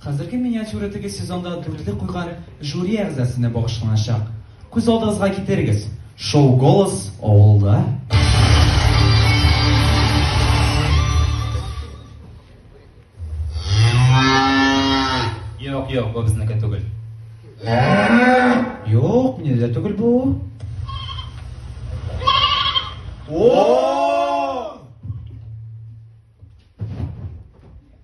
Хәзерге миниатюра теге сезонда дүртле куйган жюри әгъзасенә багышланачак. Күз алдыгызга китерегез, шоу Голос авылда. Юк, юк, бу безнеке түгел. Юк, мине дә түгел бу. О!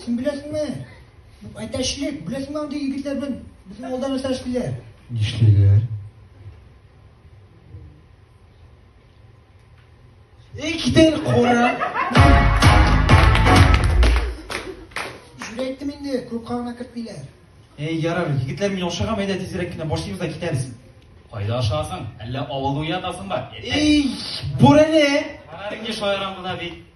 Син беләсеңме? Әтәчлек, беләсеңме андый егетләр белән безнең алда нәрсә эшлиләр? Нишлиләр? Эчтен кура. Җүрәттем инде, күп кагына кертмиләр. Эй, ярар, егетләр мин ашыгам, әйдә тизрәк кенә башлыйбыз да китәбез. Кайда ашасың? Әллә авылда уятасыңмы? Эй, бүрәнә! Карарың еш аярам гына бит.